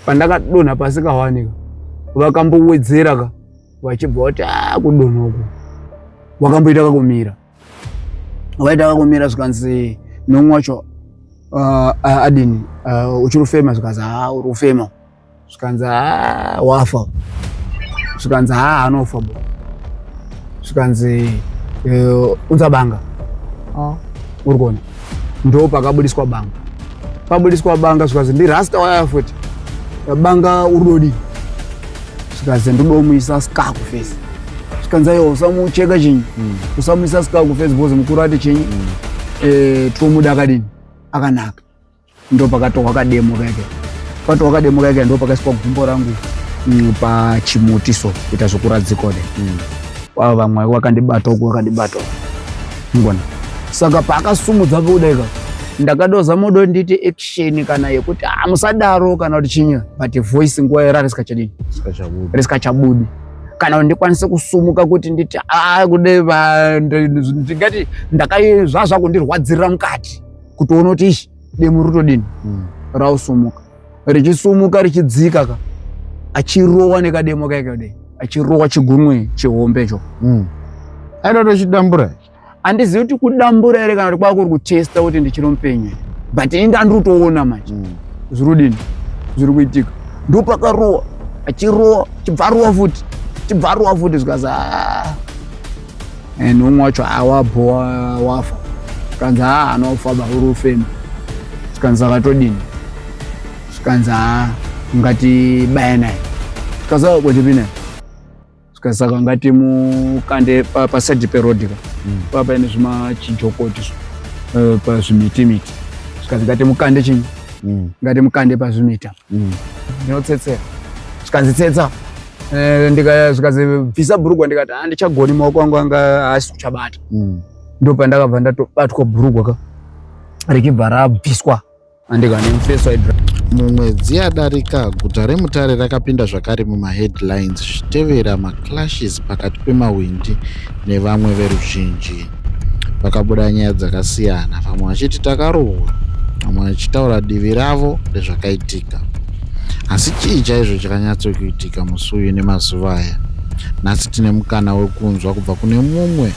pandakadonha pasi kawanika vakambowedzera ka vachibva vati ah, kudonha uku wakamboita kakumira waita kakumira zvikanzi nomwe wacho ah, ah, adini uchiri kufema zvikanzi ha uri kufema zvikanzi ha wafa zvikanzi ha anofa bo zvikanzi eh, unzabanga oh. uri kuona ndo pakabudiswa banga pabudiswa banga zvikazi ndirasta waya futi banga urudodi zvikazi ndodomuisa skaku fesi zvikanzi ayo usamucheka chinyi mm. usamuisa skaku fesi bhozi mukuru ati chinyi mm. eh, tomuda akadini akanaka Ndo pakatohwa kademo kake pakatohwa kademo kake ndo pakaiswa gumbo rangu mm, pachimuti so kuita zvekuradzikode mm. avo vamwe wakandibata uku wakandibata ngona saka paakasumudza kudaika ndakadoza modo nditi action kana yekuti ah, musadaro kana kuti chinyi but voice nguva yera risikachadini risikachabudi kana ndikwanise kusumuka kuti nditi ah, kude ndingati ndakaizvazvakundirwadzirira mukati kutoona kuti ishi demo rotodini mm. rausumuka richisumuka richidzika ka achirowa nekademo kaika kudai achirowa chigunwe chihombe cho mm. aida tochidambura handizivi kuti kudambura here kana kuti kwakuri kutesta kuti ndichiri mupenyu but ini ndandiri kutoona manje mm. zviri kudini zviri kuitika ndopakarowa achirowa chibvarowa futi chibvarowa futi zvikazi ah. and umwe wacho awabhowa wafa zvikanzi haa hana kufamba uri ufema zvikanzi akatodini zvikanzi haa ungati baya naye zvikanzi akakochepi naye zvikanzi saka ungati mukande pasaidi perodika mm. paa paine zvimachijokoti eh, pazvimitimiti zvikanzi ngati mukande chini mm. ngati mukande pazvimita mm. ndinotsetsera zvikanzi tsetsa eh, zvikanzi bvisa bhurugwa ndikati handichagoni maoko angu anga haasi kuchabata mm. ndo pandakabva ndatobatwa bhurugwa ka richibva rabviswa andikanimfeswa mumwedzi yadarika guta remutare rakapinda zvakare mumaheadlines zvichitevera maclashes pakati pemahwindi nevamwe veruzhinji pakabuda nyaya dzakasiyana vamwe vachiti takarohwa vamwe vachitaura divi ravo rezvakaitika asi chii chaizvo chakanyatsokuitika musi uyu nemazuva aya nhasi tine mukana wekunzwa kubva kune mumwe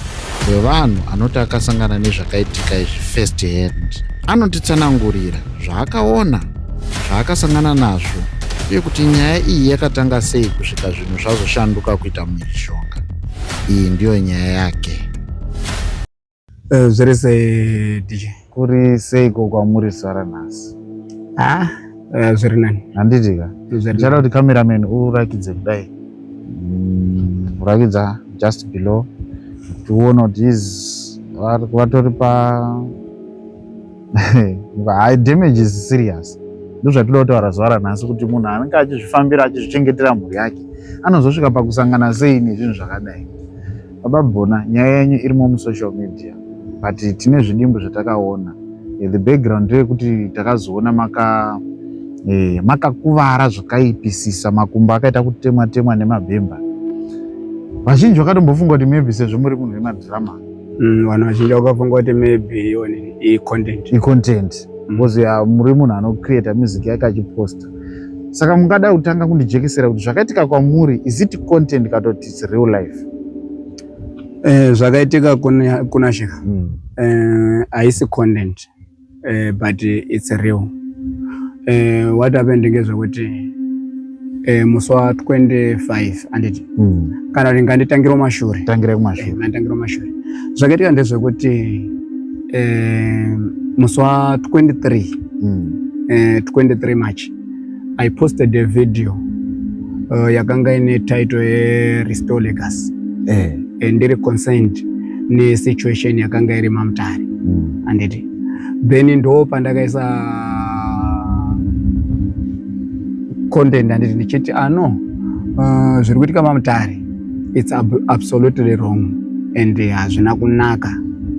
wevanhu anoti akasangana nezvakaitika izvi first hand anotitsanangurira zvaakaona zvaakasangana nazvo uye kuti nyaya iyi yakatanga sei kusvika zvinhu zvazoshanduka kuita mhirizhonga iyi ndiyo nyaya yake. Eh, zviri sei DJ? Kuri seiko kwamuri sara nhasi? Ah, eh, zviri nani. Handiti ka? Ndichada kuti cameraman urakidze kudai. Mm, urakidza just below. Tione kuti vatori pa Hai, damage is serious. Ndozvatinoda kutaura zuva ranhasi kuti munhu anenge achizvifambira achizvichengetera mhuri yake anozosvika pakusangana sei nezvinhu zvakadai. Baba Bona, nyaya yenyu irimo musocial media but tine zvidimbu zvatakaona. Eh, the background ndeyekuti takazoona maka eh, makakuvara zvakaipisisa makumbo akaita kutemwa temwa nemabhemba vazhinji vakatombofunga kuti maybe sezvo muri munhu wemadhirama Mm, vanhu vazhinji vakafunga kuti maybe iwoni icontent. Icontent. Mm. Because mm. ya muri munhu anocreata music yake achiposta. Saka mungada kutanga kundijekesera kuti zvakaitika kwamuri is it content katoti it's real life? Eh, zvakaitika kuna, kuna Shekha. Mm. Eh, haisi content. uh, but it's real uh, what happened ngezvekuti uh, musi wa 25 anditi mm. kana kuti nganditangire mashure tangire kumashure uh, nganditangire mashure zvakaitika ndezvekuti uh, musi wa 23 mm. uh, 23 march I posted a video uh, yakanga ine title ye Restore Legacy eh. and ndiri concerned ne situation yakanga iri mamutare mm. anditi then ndo pandakaisa content anditi ndichiti ano ah, uh, zviri kuitika mamutare it's ab absolutely wrong and hazvina uh, kunaka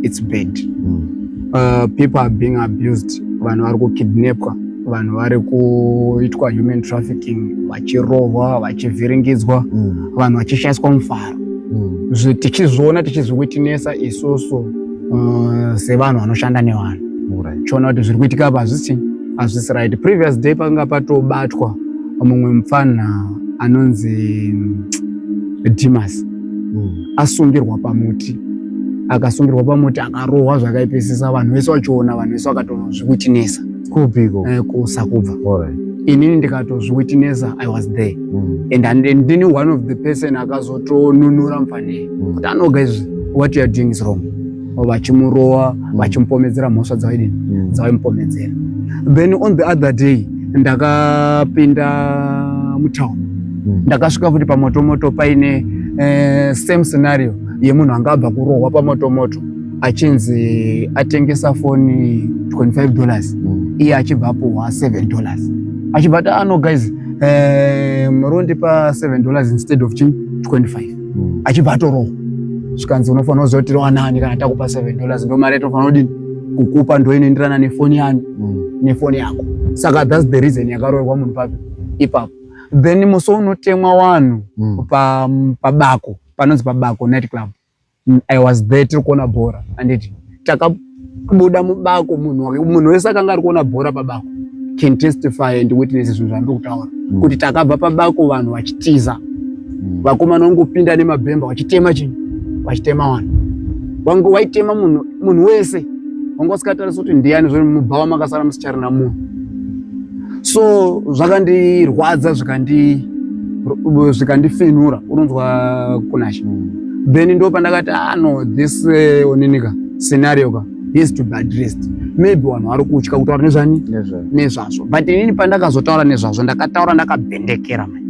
it's bad mm. uh, people are being abused vanhu vari kukidnapwa vanhu vari kuitwa human trafficking vachirohwa vachivhiringidzwa mm. vanhu vachishaiswa mufaro mm. tichizviona tichizviwitinesa isusu uh, sevanhu vanoshanda nevanhu tichiona kuti zviri kuitika apa hazvisi hazvisi right previous day pakanga patobatwa mumwe mupfanha anonzi mm, dimas mm. asungirwa pamuti akasungirwa pamuti akarohwa zvakaipisisa vanhu vese vachiona vanhu vese vakatonozvikutinesa kupi ko eh, kusakubva alright inini ndikatozviwitnesa i was there mm. and and ndini one of the person akazotonunura mfanei mm. kuti anoga izvi what you are doing is wrong vachimurowa mm. vachimupomedzera mhosva dzawaidini mm. dzawaimupomedzera then on the other day ndakapinda mutown mm. ndakasvika futi pamotomoto paine eh, same scenario yemunhu anga abva kurohwa pamotomoto achinzi atengesa foni 25 dollars mm. iye achibva apuhwa 7 dollars achibva ati ano ah, guys eh, murondipa 7 dollars instead of chini 25 mm. achibva atorohwa zvikanzi unofanira kuziva kuti rowanani kana takupa 7 dollars ndo mari yatofanira kudini kukupa ndo inoenderana nefoni yanu mm. nefoni yako saka thats the reason yakaroorwa munhu papi ipapo then musi unotemwa wanhu mm. pabako pa panonzi pabako night club I was there tiri kuona bhora anditi takabuda mubako munhu munhu wese akanga ari kuona bhora pabako can testify and witness zvinhu zvandiri kutaura mm. kuti takabva pabako vanhu vachitiza mm. vakomana vangopinda nemabhemba vachitema chinhu vachitema vanhu vange waitema munhu munhu wese wanga usikatarisi kuti ndiyani zvo mubhawa makasara musicharina munhu so zvakandirwadza zvikandifinura unonzwa kunashe mm. then ndo pandakati ah no this uh, eh, oninika scenario ka has to be addressed maybe vanhu vari kutya kutaura nezvani nezvazvo but inini pandakazotaura nezvazvo ndakataura ndakabhendekera mai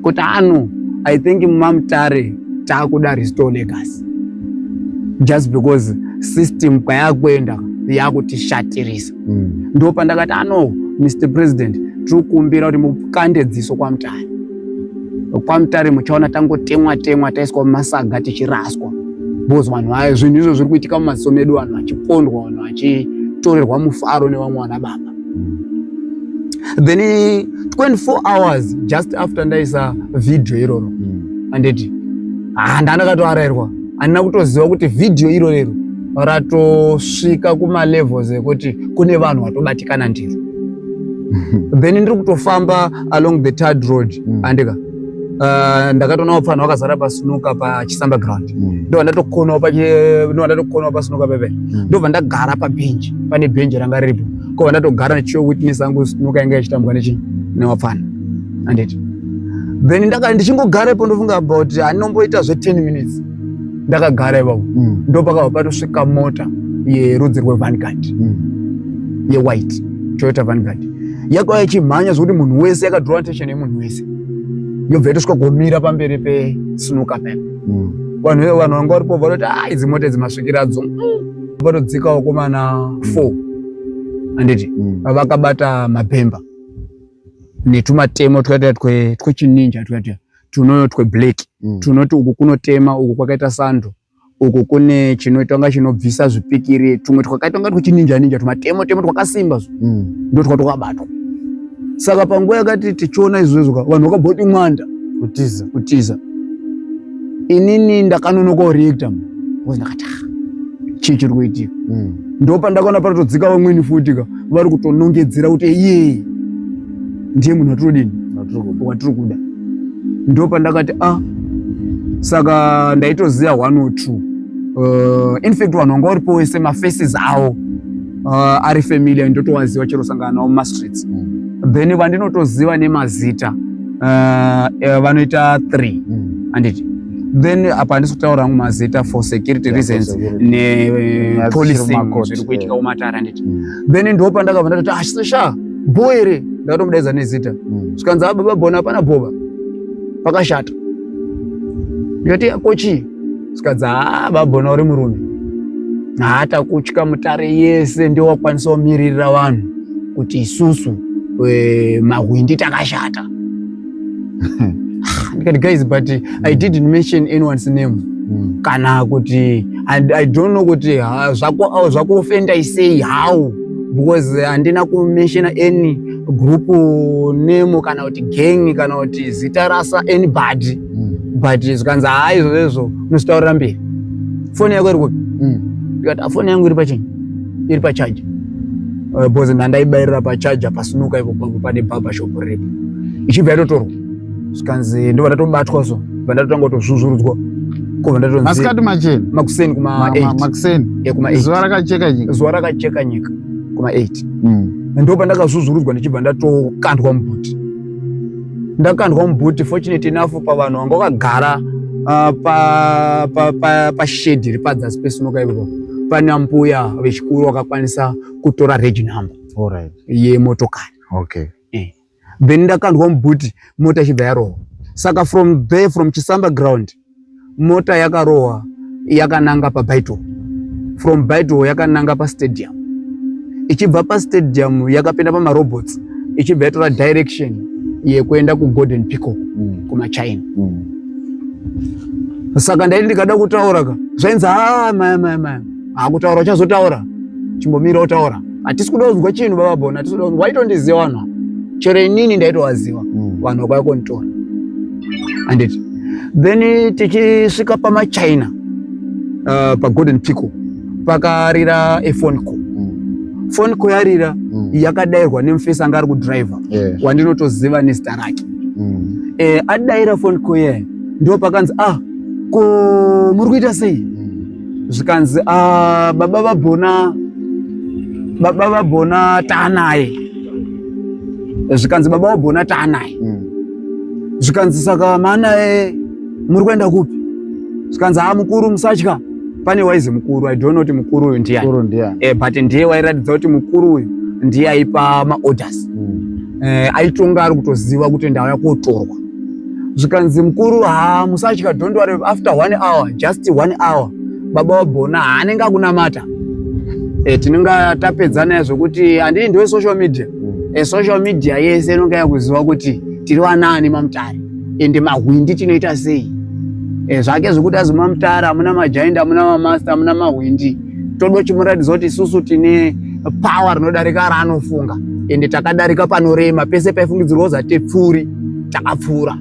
kuti ano ah, i think mamutare taakuda restore legacy just because system kwayakuenda yakutishatirisa mm. ndo pandakati ano ah, mr president tiri kukumbira kuti mukande dziso kwamutare kwamutare muchaona tangotemwa temwa taiswa mumasaga tichiraswa bcause vanhu vaye zvinhu izvo zviri kuitika mumaziso medu vanhu vachipondwa vanhu vachitorerwa mufaro nevamwe vana baba then 24 hours just after ndaisa vhidhiyo iroro hmm. anditi ah, nda ndakatoarairwa handina kutoziva kuti vhidhiyo iro rero ratosvika kumalevels ekuti kune vanhu vatobatikana ndiro then ndiri kutofamba along the tard road mm. andika uh, ndakatoona vapfanha vakazara pasinuka pachisamba ground mm. ndobva ndatokonawo ndobva ndatokonawo pasinuka pepe mm. ndobva ndagara pabhenji pane bhenji ranga riripo kobva ndatogara ndichiyo witness angu sinuka yanga yachitambwa nechi newapfanha anditi then ndaka ndichingogarepo ndofunga about handinomboita zve 10 minutes ndakagara ipapo mm. ndopakabva patosvika mota yerudzi rwevanguard mm. yewhite toyota vanguard yakauya ichimhanya zvekuti munhu wese yakadrowa attention yemunhu wese yobva yatosvika kumira pamberi pesnuka pep mm. vanhu vanhu vanga varipo vanoti a ah, idzi mota idzi masvikiradzo vatodzikawo mm. komana four handiti mm. vakabata mabhemba netumatemo twakaita twechininja twakaita tunoyo tweblack mm. tunoti uku kunotema uku kwakaita sando uku kune chinoita kunga chinobvisa zvipikiri tumwe twakaita kunga twichininja ninja tumatemo temo twakasimba zvo mm. ndo twa twakabatwa saka panguva yakati tichiona izvozvo vanhu vakaboti mwanda kutiza kutiza inini ndakanonoka reacta bcause ndakati ah, chii chiri kuitika mm. ndo pandakaona patotodzika vamweni futi ka vari kutonongedzera kuti iyee ndiye munhu watinodini watiri kuda ndo pandakati a ah, saka ndaitoziva one or two uh, infact vanhu vanga varipo wese mafaces awo uh, ari familia ndotowaziva chero sangana navo mumastreets mm. then vandinotoziva nemazita uh, uh, vanoita three mm. anditi then apa handisi kutaura hangu mazita for security yeah, reasons nepolicing zviri kuitika kumatare anditi mm. then ndopandakabva ndatoti ah, bho ere ndakatomudaidza nezita mm. zvikanzi a baba bona hapana bhova pakashata ndikati yako chii zvikanzi haa baba bona uri murume haata kutya mutare yese ndio wakwanisa kumiririra vanhu kuti isusu eh, mahwindi takashata guys but mm. i didn't mention anyone's name mm. kana kuti and i don't know kuti ah, zvakuofenda i say how because eh, handina kumention any group name kana kuti gang kana kuti zita rasa anybody mm. but zvikanzi haa izvozvo izvo unositaurira mberi foni yako iri kupi mm. ndikati ah, foni yangu iri pachini iri pachaja eh, bhozi ndandaibairira pachaja pasunuka ipo pangu pane bhaba shopu repo ichibva yatotorwa zvikanzi ndobva ndatobatwa so bva ndatotanga kutozvuzvurudzwa kobva ndatonzimasikati macheni makuseni kumakuseni zuva rakacheka nyika zuva rakacheka nyika kuma 8 hmm. ndobva ndakazvuzvurudzwa ndichibva ndatokandwa mubhuti ndakandwa mubhuti fortunate enough pavanhu vanga vakagara ah, pashedhi iri padzasi pesunoka ivo pana mbuya vechikuru vakakwanisa kutora regi number yemotokari okay. Eh. then ndakandwa mubhuti mota ichibva yarova saka from there from chisamba ground mota yakarohwa yakananga pabaito from baito yakananga pastadium ichibva pastadium yakapinda pamarobots ichibva yatora direction yekuenda kugolden pico mm. kumachina mm. saka ndaiti ndikada kutaura ka zvainzi haa ah, maya maya maya akutaura uchazotaura chimbomira utaura hatisi kuda kunzwa chinhu baba bona hatisi kuda kunzwa waitondiziva vanhu ava chero inini ndaitovaziva mm. vanhu vakwaya konitora handiti then tichisvika pamachina uh, pagolden pico pakarira efone call mm. fone call yarira mm. yakadairwa nemufesi anga ari kudriver yeah. wandinotoziva nezita rake mm. eh, adaira fone call yayo ndo pakanzi ah ko muri kuita sei zvikanzi ah, baba vabhona baba vabhona taanaye zvikanzi baba vabhona taanaye hmm. zvikanzi saka maanaye muri kuenda kupi zvikanzi ha ah, mukuru musatya pane waizi mukuru i don't know kuti mukuru uyu ndiani e, but ndiye wairatidza kuti mukuru uyu ndiye aipa maorders mm. e, aitonga ari kutoziva kuti ndauya kotorwa zvikanzi mukuru ha musatya don't worry after one hour just one hour baba wabhona haanenge akunamata e, tinenge tapedza naye zvekuti handii ndiwe social media e, social media yese inonge yakuziva kuti tiri vanaani mamutare ende mahwindi tinoita sei e, zvake zvekuti azi mamutare amuna majaindi amuna mamaster amuna mahwindi toda chimuratidza kuti isusu tine power rinodarika raanofunga ende takadarika panorema pese paifungidzirwa kuzi hatipfuuri takapfuura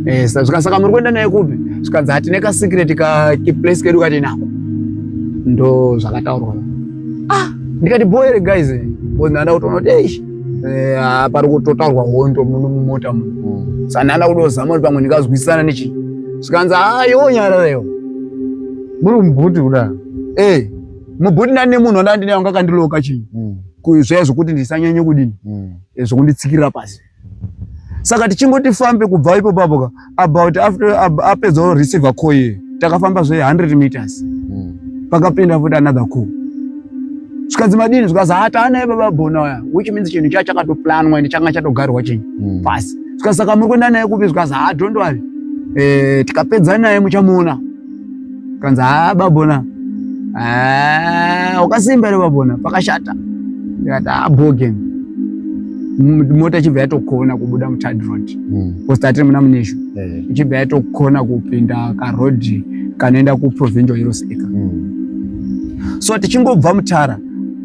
eh, zvika saka muri kuenda naye kupi zvikanzi hatine kasikireti kaplace kedu katinako ndo zvakataurwa ah ndikati boere guys ndanda kutoona kuti eish eh, ah, pari kutotaurwa hondo muno mumota muno mm. sandanda kutozama kuti pamwe ndikazwisisana nechi zvikanzi ayonyarareyo ah, muri mubhuti kuda hey. Eh, mubhuti ndane munhu wanda ndine wanga akandiloka chii mm. zviya zvokuti ndisanyanye kudini mm. Eh, zvokunditsikirira pasi saka tichingoti fambe kubva ipo papoka about after apedza ab, receiver call ye takafamba zve 100 meters mm. pakapinda futi another call zvikanzi madini zvikanzi hataanaye baba bona uya which means chinhu chaya chakatoplanwa ende changa chatogarwa chinyi mm. pasi zvikanzi saka muri kuenda naye kupi zvikanzi ha don't worry eh, tikapedza naye muchamuona kanzi haa babona wakasimba ere babona pakashata ndikati haa bogen mota ichibva yatokona kubuda muthird road hmm. bcause tatiri muna muneshu eh. ichibva yatokona kupinda karodhi kanoenda kuprovincial heroes acre hmm. so tichingobva mutara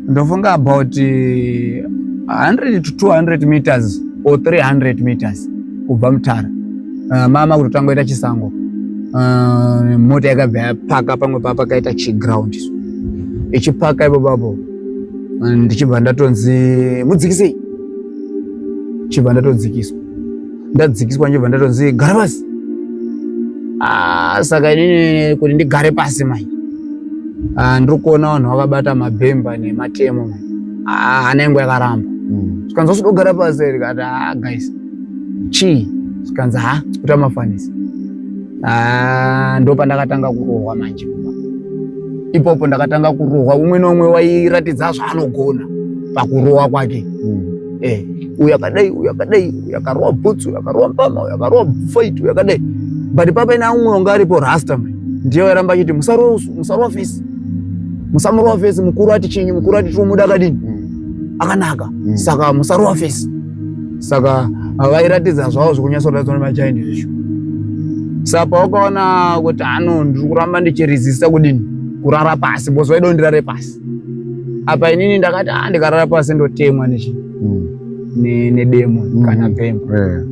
ndofunga about 100 eh, to 200 meters or 300 meters kubva mutara uh, mama kutotanga ita chisango uh, mota yakabva yapaka pamwe paa pakaita chiground ichipaka ipo papo ndichibva ndatonzi mudzikisei chibva ndatodzikiswa ndadzikiswa ndichibva ndatonzi gara pasi ah, saka inini kuti ndigare pasi mai ah, ndiri kuona vanhu vakabata mabhemba nematemo mai ah, hana yangu yakaramba hmm. zvikanzi wasudogara pasi rikati guys chii zvikanzi ha kuta mafanisi ah, ndo pandakatanga kurohwa manje ipopo ndakatanga kurohwa umwe neumwe wairatidza zvaanogona pakurohwa kwake mm. eh, uyu akadai uyu akadai uyu akarohwa bhutsu uyu akarohwa mpama uyu akarohwa fait uyu akadai but papaina umwe wanga aripo rasta ndiye wairamba achiti musarohwa fesi musamurohwa fesi mukuru ati chinyi mukuru ati tinomuda akadini mm. akanaka mm. saka musarohwa fesi saka vairatidza zvavo zvekunyatsoratidzwa nemachind izvo saka pawakaona kuti ano ndiri kuramba ndichirizisa kudini kurara pasi bcause vaida kundirare pasi apa inini ndakati a ah, ndikarara pasi ndotemwa nechi hmm. nedemo hmm. kana bhembo eh.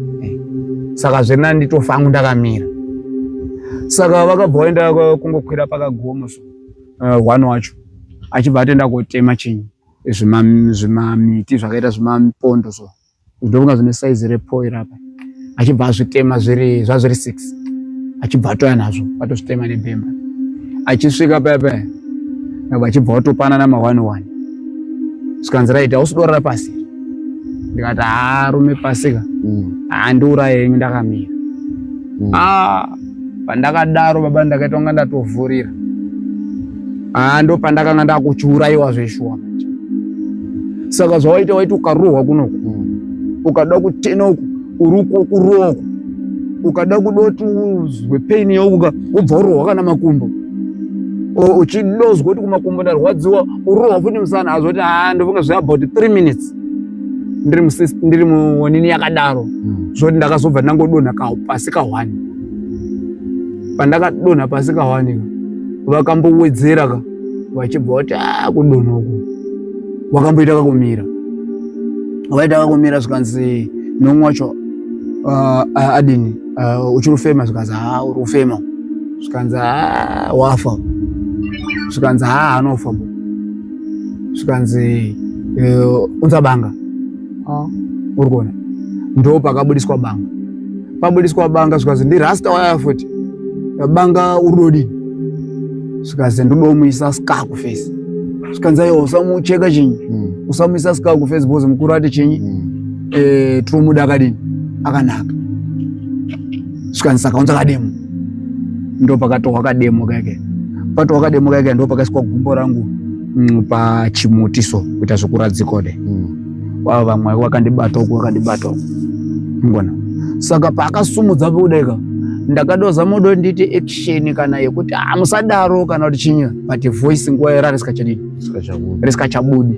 saka zviri nani nditofa angu ndakamira saka vakabva vaenda kungokwira pakagomo so eh, one wacho achibva atenda kotema chinyi zvimamiti zvakaita zvimapondo so zvindofunga zvine saizi repo irapa achibva azvitema zviri zvazviri six achibva atoya nazvo atozvitema nebhemba achisvika paya paya nabva achibva watopanana maone one zvikanzi raiti ausudorara pasi ndikati haarume pasika mm. handiuraye henyu ndakamira mm. ah. Pandakadaro baba ndakaita kunga ndatovhurira. Ah ndo pandakanga ndakuchiuraiwa zveshuwa manje. Saka zvawaita waiti ukarohwa kunoku. Ukada kutena uku uruko kurohwa. Ukada kudoti uzwe pain yauka ubva urohwa kana makumbo. Uchidozwa kuti kumakumbo ndarwadziwa urohwa futi musana azoti ah ndofunga zve about 3 minutes. ndiri musisi ndiri muonini yakadaro hmm. zvoti ndakazobva ndangodonha pasi kahwani pandakadonha pasi kahwani ka vakambowedzera ka vachibva vati a ah, kudonha uku wakamboita kakumira waita kakumira zvikanzi nomwe wacho ah, ah, adini uchiri ufema zvikanzi ha uri ufema zvikanzi ha wafa zvikanzi ha anofa bo zvikanzi eh, unza banga ah. uri kuona ndo pakabudiswa banga pabudiswa banga zvikanzi ndirasta waya futi banga uri dodini zvikanzi ndodomuisa ska kufesi zvikanzi ayo usamucheka chinyi hmm. usamuisa ska kufesi bhozi mukuru ati chinyi hmm. eh, tinomuda akadini akanaka Svikani saka unza kademo. Ndo pakatohwa kademo kake. Patohwa kademo kake ndo pakaiswa gumbo rangu mm, pa chimuti so kuita zvekuradzikode. Mm. Wao vamwe wakandibata uko wakandibata uko. Ngona. Saka pakasumudza kudeka ndakadoza modo nditi action kana yekuti ah musadaro kana kuti chinyi but voice nguwa yarari sikachadini. Sikachabudi. Risikachabudi.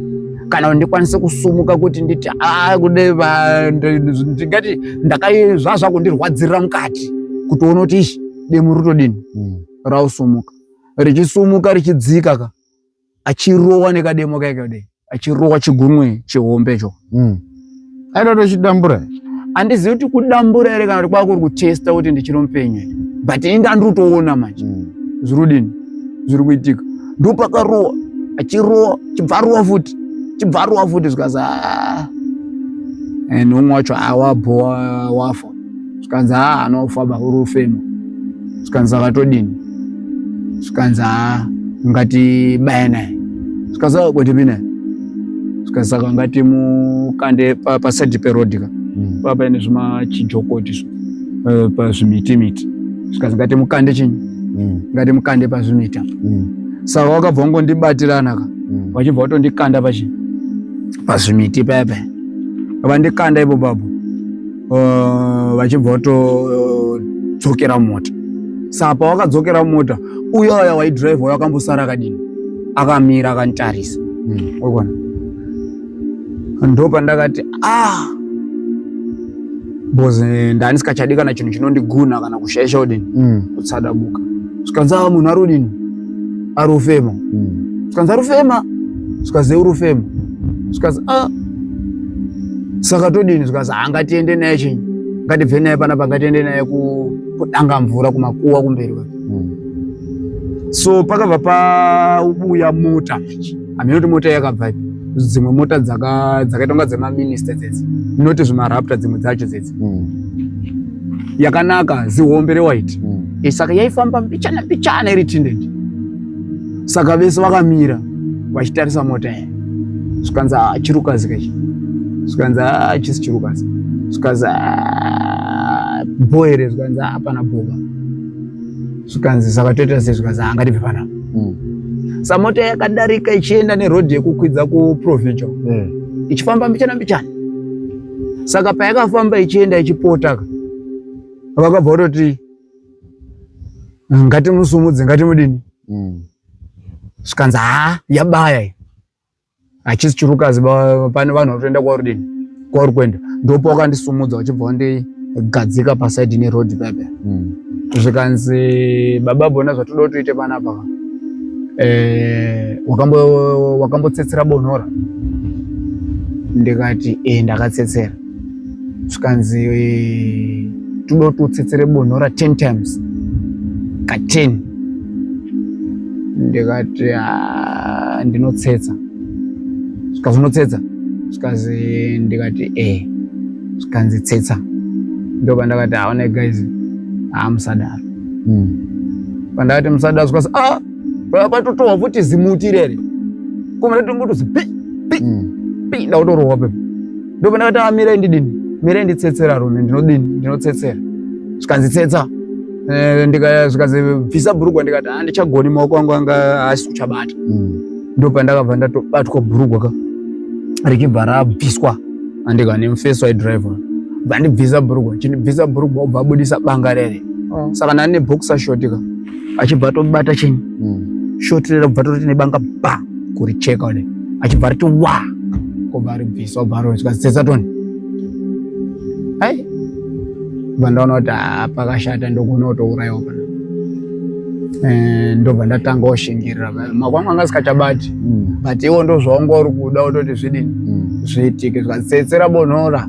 kana kuti ndikwanise kusumuka kuti nditi a ah, kude ndingati ndakai zvazva kundirwadzirira mukati kutoona kuti ishi demo rutodini hmm. rausumuka richisumuka richidzika ka achirowa nekademo kaika kudai achirowa chigunwe chihombe cho mm. aitotochidambura andizivi kuti kudambura here kana kuti kwakuri kutesta kuti ndichiri mupenyu but inda ndiri kutoona manje mm. zviri kudini zviri kuitika ndopakarowa achirowa chibvarowa futi chibvarowa futi zvikazi ah. and umwe wacho awabhowa wafa zvikanzi haa anofa bakuru ufemo zvikanzi vakatodini zvikanzi haa ungati baya naye zvikanzi vakakotepi naye zvikanzi saka ungati mukande pasaidi perodika hmm. paa paine zvimachijokoti zvo eh, pazvimiti miti zvikanzi ngati mukande chinyi hmm. ngati mukande pazvimita hmm. saka wakabva wangondibatirana vachibva vatondikanda pachi pazvimiti paya paya vandikanda ipo papo uh, vachibva vatodzokera uh, mota saa pawakadzokera mota uyo aya waidrive wayo akambosara akadini akamira akanditarisa hmm. wakuona ndo pandakati ah bcause eh, ndanisikachadi kana chinhu chinondiguna kana kushaisha kudini hmm. kutsadabuka zvikanzi a ah, munhu ari kudini ari kufema hmm. zvikanzi ari kufema zvikanzi uri kufema zvikanzi a ah, saka todini zvikanzi ha ah, ngatiende naye chinyi ngatibve naye panapa ngatiende naye kudanga mvura kumakuwa kumberi kwake hmm. so pakabva pauya mota manje hameno kuti mota yakabva ipi dzimwe mota dzakaita kunga dzemaminista dzedzi not zvimarapta dzimwe dzacho dzedzi hmm. yakanaka zihombe rewhite hmm. eh, saka yaifamba mbichana mbichana iri tinded saka vese vakamira vachitarisa mota iyi zvikanzi ah, chirukazi kachi zvikanzi ah, chisi chirukazi zvikanzi ah, bho here zvikanzi hapana bhova zvikanzi saka toita sei zvikanzi angati pepana hmm. sa mota yakadarika ichienda nerodhi yekukwidza kuprovincial hmm. ichifamba mbichana mbichana saka payakafamba ichienda ichipotaka vakabva vatoti ngatimusumudze ngatimudini mm. zvikanzi haa yabaya iyi hachisi chirukazi pane vanhu vatoenda kwauri dini kwauri kuenda ndopa wakandisumudza uchibva wandigadzika pasaidi neroad pepe mm. zvikanzi baba bona zvatoda kuti uite panapa ka eh, wakambotsetsera bonora ndikati e ndakatsetsera zvikanzi toda kuti utsetsere bonora 10 times ka 10 ndikati ah, ndinotsetsa zvikazi unotsetsa zvikazi ndikati e zvikanzi tsetsa ndoba ndakati haone guys haamusadaro hmm. pandakati musadaro zvikazi a ah, patotohwa futi zimuti irere koma ndatongotozi pi pi hmm. pi ndakutorohwa pepa ndopanda kati amirai ndidini mirai nditsetsera rune ndinodini ndinotsetsera zvikanzi tsetsa eh, zvikanzi bvisa bhurugwa ndikati ha ah, ndichagoni maoko angu anga haasi kuchabata mm. ndopandakabva ndatobatwa bhurugwa ka richibva rabviswa andika nemufeso aidriver bva ndibvisa bhurugwa chindibvisa bhurugwa obva abudisa banga rere oh. saka nani neboxer shot ka achibva atobata chenyi mm. shot rera kubva toroti nebanga ba kuricheka one achibva ariti wa kobva aribvisa obva aronzwa sesatoni hai bva ndaona kuti ah, pakashata ndogona kutourayiwa pana eh, ndobva ndatanga oshingirira makwamwe anga asikachabati hmm. but iwo ndozvaunga uri kuda utoti zvidini hmm. zviitike zvikasetsera bonora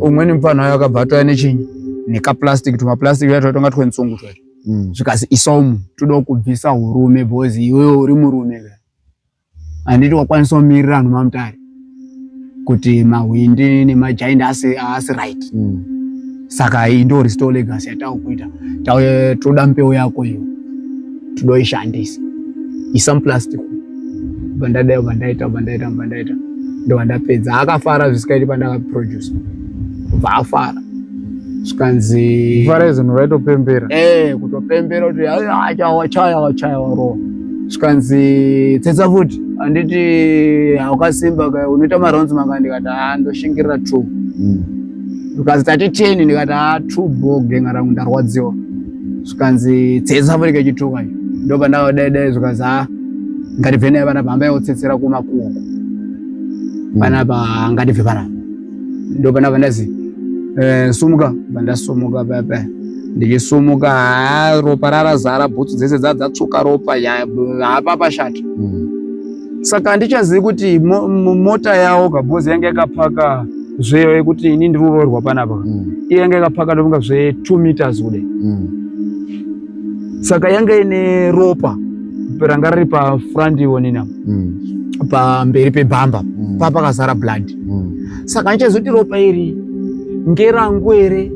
umweni mupfanha wayo akabva atouya nechinyi nekaplastic tumaplastic tuya twatonga twenzungu twacho mm. zvikazi isomu toda kubvisa urume bhozi iwewe uri murume ka handiti wakwanisa kumirira vanhu mamutare kuti mahwindi nemajaindi asi, asi right mm. saka iyi ndo restore legacy yatakuita tauye toda mbeu yako iyo todoishandisa isa muplastic bandadai bandaita bandaita bandaita ndovandapedza akafara zvisikaiti pandakaproduce kubva afara zvikanzi fara izvinhu vaitopembera e eh, kutopembera kuti achawachaya wachaya warowa zvikanzi tsetsa futi handiti haukasimba ka unoita maronzi manga ndikati haa ndoshingirira two zvikanzi hmm. tati ten ndikati haa two bo genga rangu ndarwadziwa zvikanzi tsetse afoneka chituka ndoba ndava dai dai zvikanzi ha ah, ngatibve naye panapa hambai otsetsera kumakuoko hmm. panapa ngatibve panapa ndoba ndava ndazi eh, sumuka bandasumuka pepe ndichisumuka ha ropa rarazara bhutsu dzese dza dzatsvuka ropa hapapa shati hmm. saka handichazivi kuti mota yawo kabhozi yange yakapaka zveyo yekuti ini ndiri kuroorwa panapa mm. iye yanga yakapaka ndofunga zve two meters kude mm. saka yanga ine ropa ranga riri pafront ionina mm. pamberi pebhamba mm. pa pakazara blood mm. saka ndichazoti ropa iri ngerangu here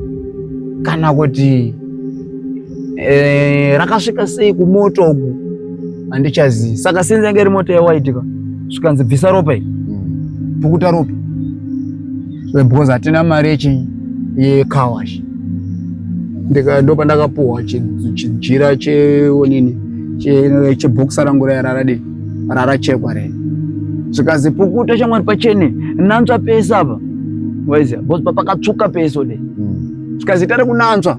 kana kuti Eh, rakasvika sei kumoto uku handichazivi. Saka sinzi yange iri moto yewaiti ka zvikanzi bvisa ropa iri hmm. pukuta ropa eh, because hatina mari yechi yekawash ndopandakapuhwa chijira cheonini chebhokisa rangu raya raradii rarachekwa rei zvikanzi pukuta shamwari pachene nantswa pese apa waiziva because papakatsvuka pese de hmm. zvikanzi tari kunantswa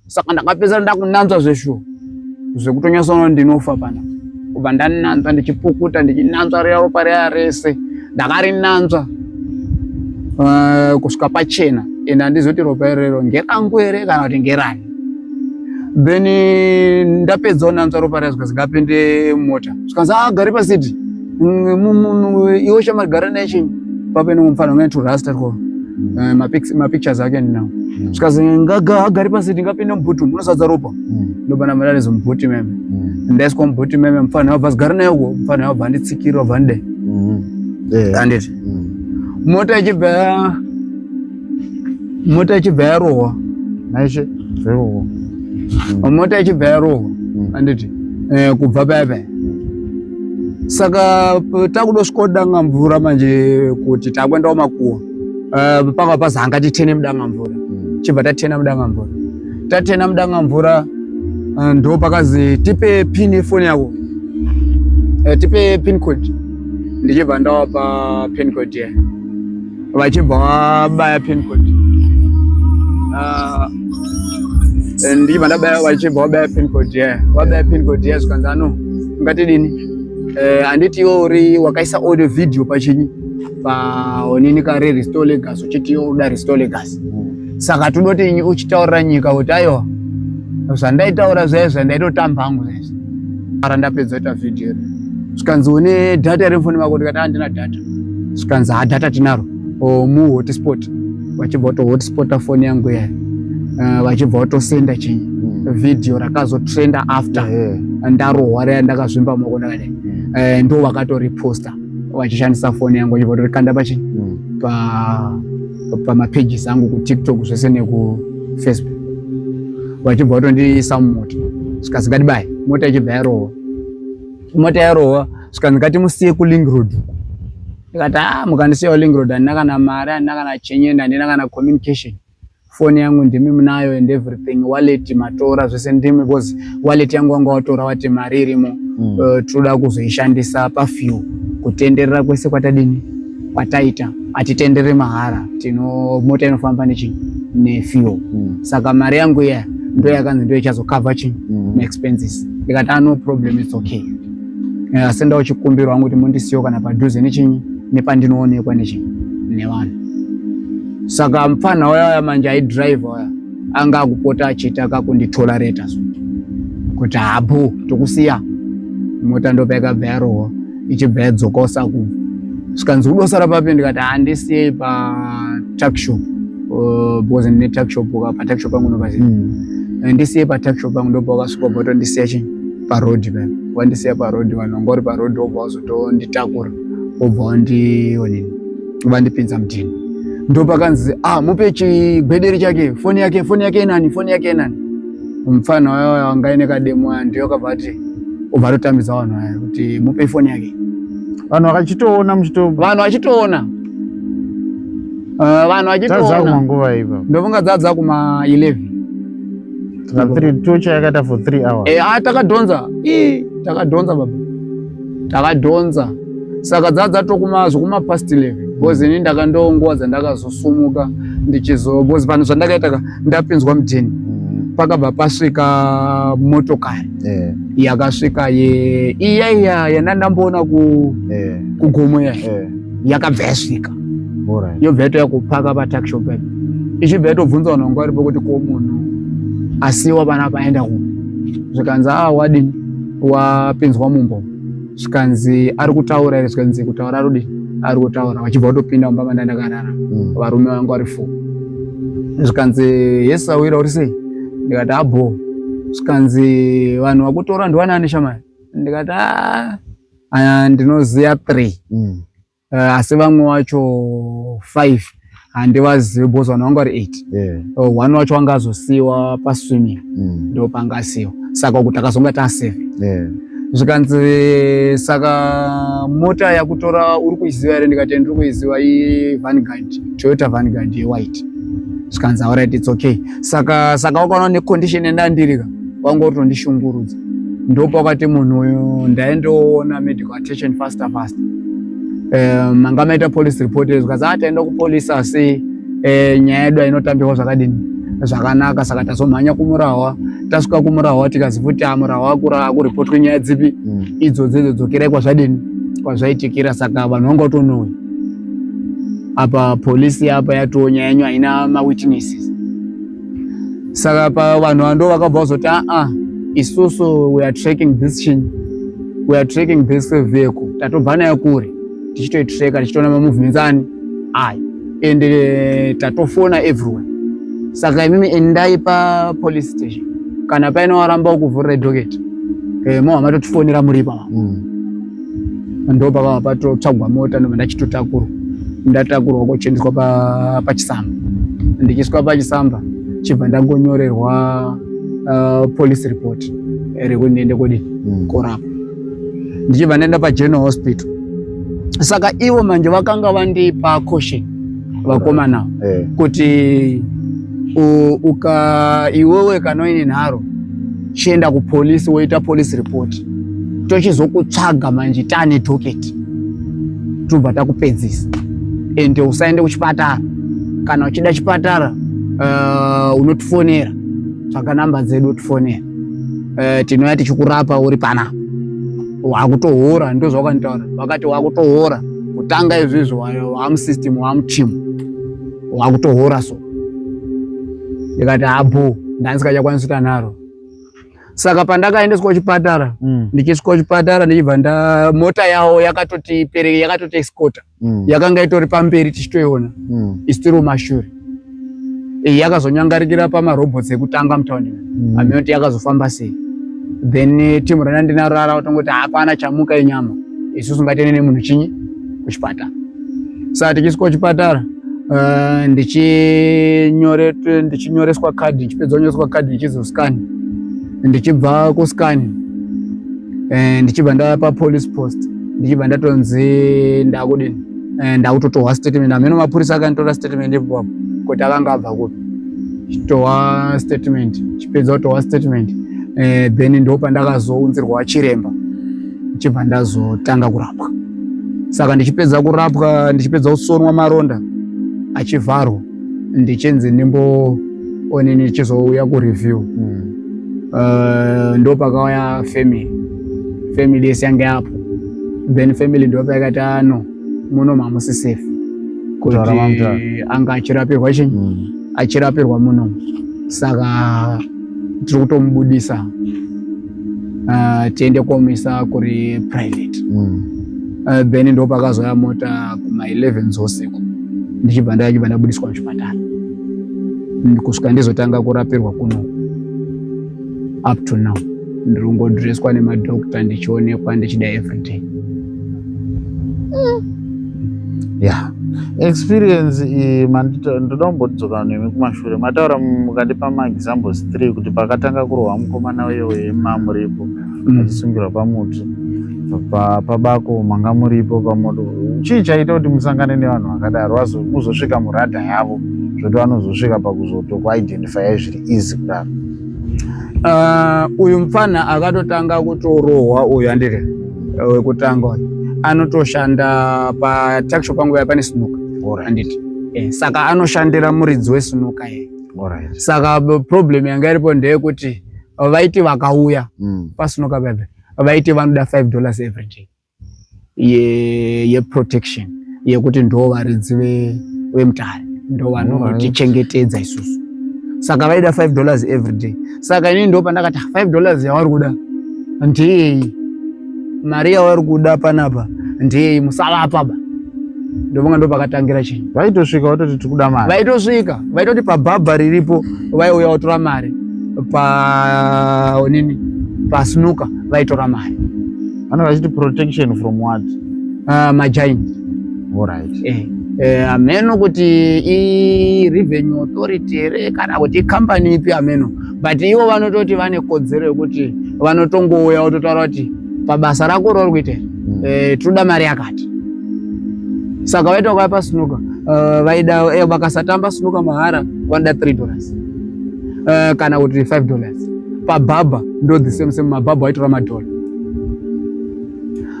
saka ndakapedzera ndakunanzva zveshuwa zvekutonyatsoona ndinofa pana kubva ndananzva ndichipukuta ndichinanzva riya ropa riya rese ndakarinanzva uh, kusvika pachena ende handizoti ropa irero ngerangu here kana kuti ngerani then ndapedza unanzva ropa riya zvikazingapinde mota zvikanzi agari ah, pasiti iwe shamari gara naye chinyi papa ine mufana ungae turasta two eh, mapictures ake ndinawo hmm. zvikazi ngaga agari pasi ndingapinde mubhuti umu unosadza ropa hmm. ndobana mararizo mubhuti meme hmm. ndaiswa mubhuti meme mufana wabva zigara naye uko mufana wabva anditsikira wabva ndidai anditi mota ichibva mota ichibva yarohwa maishe zverohwa mm. mota ichibva yarohwa mm. anditi eh, kubva paya paya saka takudosvika danga mvura manje kuti takuendawo makuwa eh, panga pazi hanga titene mudanga mvura mm. chibva tatena mudanga mvura tatena mudanga mvura eh, ndo pakazi tipe pin yefoni yako tipe pin code ndichibva ndawapa pin code yeah. vachibva vabaya pin code ah, eh, ndichibva ndabaya vachibva vabaya pin code yeah vabaya pin code yeah zvikanzi ano ungatidini eh, handiti iwo uri wakaisa audio video pachinyi paonini kare restore legas uchiti iwo uda restore legas saka todoti uchitaurira nyika kuti aiwa zvandaitaura zvaye zvandaitotamba hangu zvezvo ara ndapedza ita vhidhiyo iri zvikanzi une dhata here mufoni mako ndikati handina dhata zvikanzi ha dhata tinaro mu hotspot vachibva wato hotspota foni yangu yayo eh, vachibva watosenda chinyi hmm. vhidhiyo rakazotrenda after eh. ndarohwa raya ndakazvimba moko ndakadai hmm. eh, ndo vakatoreposta vachishandisa foni yangu vachibva watorikanda pachinyi hmm. pa pamapages angu kutiktok zvese nekufacebook vachibva vatondiisa mumota zvikanzi ngatibaye mota ichibva yarohwa mota yarohwa zvikanzi ngatimusiye kuling road ndikati a ah, mukandisiya kuling road handina kana mari handina kana chenyeni handina kana communication foni yangu ndimi munayo and everything wallet matora zvese ndimi because wallet yangu wanga watora wati mari irimo mm. uh, tinoda kuzoishandisa pafew kutenderera kwese kwatadini kwataita atitendere mahara tino mota inofamba nechii nefuel mm. saka mari yangu iya ndo yakanzi ndo ichazokava chii mm. maexpenses ndikati ah, no problem its okay eh, asi ndao chikumbirwa angu kuti mundisiyo kana padhuze nechinyi nepandinoonekwa nechinyi nevanhu saka mupfanha waya waya manje aidrive waya anga akupota achiita kakunditorareta so kuti habu tokusiya mota ndopaikabva yarohwa ichibva yadzoka usaku zvikanzi kudosara papi ndikati handisiyei patuckshop uh, because ndine tuckshop ka patuckshop pangu nopazii hmm. eh, ndisiyei patuckshop pangu ndopa wakasvika bva tondisiya chii paroad pa wandisiya paroad vanhu vanga uri paroad wobva wazotonditakura wobva wandionini vandipinza mutini ndopakanzi ah mupe chigwederi chake foni yake foni yake inani foni yake inani mupfana wayo wanga ine kademo aya ndiyo kabva ati obva atotambidza vanhu aya kuti mupe ifoni yake vanhu vakachitoona muchito vanhu vachitoona eh, vanhu vachitoona nguva ipa ndofunga dzadza kuma 11 tocha yakaita for 3 hours eh, ah, takadhonza takadhonza baba takadhonza saka dzadzatokuma zvekuma past 11 because ini ndakandiwo nguva dzandakazosumuka ndichizo because vanhu zvandakaita ndapinzwa mudheni mm. pakabva pasvika motokari eh. yakasvika ye iya iya yandandamboona eh. kugomo ya eh. yakabva yasvika yobva yatouya kupaka pataxi pake ichibva yatobvunza vanhu vanga varipo kuti ko munhu asiwa vana vaenda kupi zvikanzi a ah, wadini wapinzwa mumbo zvikanzi ari kutaura ere zvikanzi kutaura arudi ari kutaura vachibva kutopinda mumba manda ndakarara hmm. varume vangu vari fo zvikanzi yesu awira uri sei ndikati abho ah, zvikanzi vanhu vakutora ndiwanani shamai ndikati ah, ah, ndinoziva three hmm. uh, asi vamwe wacho five handivazivi bos vanhu vanga vari eight yeah. uh, one wacho wanga azosiyiwa paswimming mm. ndo panga asiyiwa saka kuti akazonga taseve yeah. zvikanzi saka mota yakutora uri kuiziva here ndikati ndiri kuiziva ivangard toyota vangard yewhite zvikanzi auright its okay saka saka wakaona necondition yandandirika wanga utondishungurudza ndopakwati munhu uyu ndaendoona medical attention faster faster um, manga maita police report zvikanzi a ah, taenda kupolice asi eh, nyaya yedu ainotambirwa zvakadini zvakanaka saka tazomhanya kumurahwa tasvika kumurahwa tikazi futi amurahwa ah, akuripotwe nyaya dzipi mm. idzodzi idzo dzokerai kwazvadini kwazvaitikira saka vanhu vanga utonouya apa polisi apa yatoo nyaya yenyu haina mawitnesses saka pavanhu vando vakabva vazoti aa ah, ah, isusu weare tracking this chin weare tracking this vehicle tatobva nayo kure tichitoitreka tichitoona mamovements ani ayo and eh, tatofona everywhere saka imimi endai papolice station kana paine waramba kuvhurira idhoketi eh, mo hamatotifonera muripa mm. ndo pakava patotsvagwa mota ndobva ndachitotakurwa ndatakurwa kochiendeswa pachisamba ndichiiswa pachisamba chibva ndangonyorerwa uh, police report rekuti ndiende kodii hmm. korapwa ndichibva ndaenda pageneral hospital saka ivo manje vakanga vandipa caution vakomana eh. kuti uka iwewe kanoine nharo chienda kupolisi woita police report tochizokutsvaga manje tane docket tobva takupedzisa ende usaende kuchipatara kana uchida chipatara uh, unotifonera tsvaga namba dzedu otifonera uh, eh, tinouya tichikurapa uri panapa wakutohora ndozvawakanitaura vakati wakutohora kutanga izvizvo wamusystem wamuchimu wakutohora so ndikati habho ndandisikachakwanisi tanaro saka pandakaendeswa kuchipatara mm. ndichisvika kuchipatara ndichibva nda mota yawo yakatoti pereke yakatoti escota mm. yakanga itori pamberi tichitoiona mm. isitiri mashure iyi yakazonyangarikira pamarobots ekutanga mutaundi mm. amene kuti yakazofamba sei then eh, timu rana ndinarara kutongoti hapana chamuka inyama isusu ngatene nemunhu chinyi kuchipatara saka tichisvika kuchipatara uh, ndichinyoreswa kadhi ndichipedza kunyoreswa kadhi ndichizoskani ndichibva kuskani eh, ndichibva ndava papolice post ndichibva ndatonzi ndakudini eh, ndakutotohwa statement ameno mapurisa akanditora statement ipapo kuti akanga abva kupi chitohwa statement chipedza kutohwa statement eh, then ndo pandakazounzirwa chiremba chibva ndazotanga kurapwa saka ndichipedza kurapwa ndichipedza kusonwa maronda achivharwa ndichinzi ndimbo one ndichizouya kureview hmm. eh, ndo pakauya family family yese yange apo then family ndo payakati ano ah, muno mamusi safe kuti anga achirapirwa chinyi hmm. achirapirwa muno saka tiri kutomubudisa uh, tiende komisa kuri private mm. uh, then ndo pakazouya mota kuma 11 dzousiku ndichibva ndachibva ndabudiswa muchipatara kusvika ndizotanga kurapirwa kuno up to now ndiri kungodreswa nemadokta ndichionekwa ndichida everyday yeah experience iyi ndoda kumbodzoka nemi kumashure mataura mukandipa maexamples three kuti pakatanga kurohwa mukomana uyo wemambo ripo mm. achisungirwa pamuti pabako manga muripo pamoto chii chaita kuti musangane nevanhu vakadaro muzosvika muradha yavo zvoti vanozosvika pakuzotokuidentifya zviri easy kudaro ah, uyu mfana akatotanga kutorohwa uyu andiri Eh, wekutanga uyu anotoshanda pataksho pangu ya pane sinuka anditi eh, saka anoshandira muridzi wesinuka ye saka problem yanga iripo ndeyekuti eh, vaiti vakauya mm. pasinuka bebe vaiti vanoda 5 dollars every day yeprotection ye yekuti ndo varidzi vemutare ndo vanotichengetedza isusu saka vaida 5 dollars every day saka ini ndo pandakati 5 ah, dollars yavari kuda ndiyei mari yavari kuda panapa ndiyei musavapa ba ndovanga ndo pakatangira chinhu vaitosvika vatoti tiri kuda mari vaitosvika vaitoti pabhabha riripo vaiuya vatora mari pa nini pasnuka vaitora mari Vana vachiti protection from what? Uh, majaini. All right. Eh. Eh, ameno kuti i revenue authority here kana kuti icompany ipi ameno but ivo vanototi vane kodzero yekuti vanotongouya vototaura kuti pabasa rako rori kuita mm. eh, tinoda mari yakati saka vaita ukaya pasnuka uh, eh, vaida eh, vakasatamba snuka mahara vanoda 3 dollars uh, kana kuti 5 dollars pabhabha ndo the same same mabhabha vaitora madhola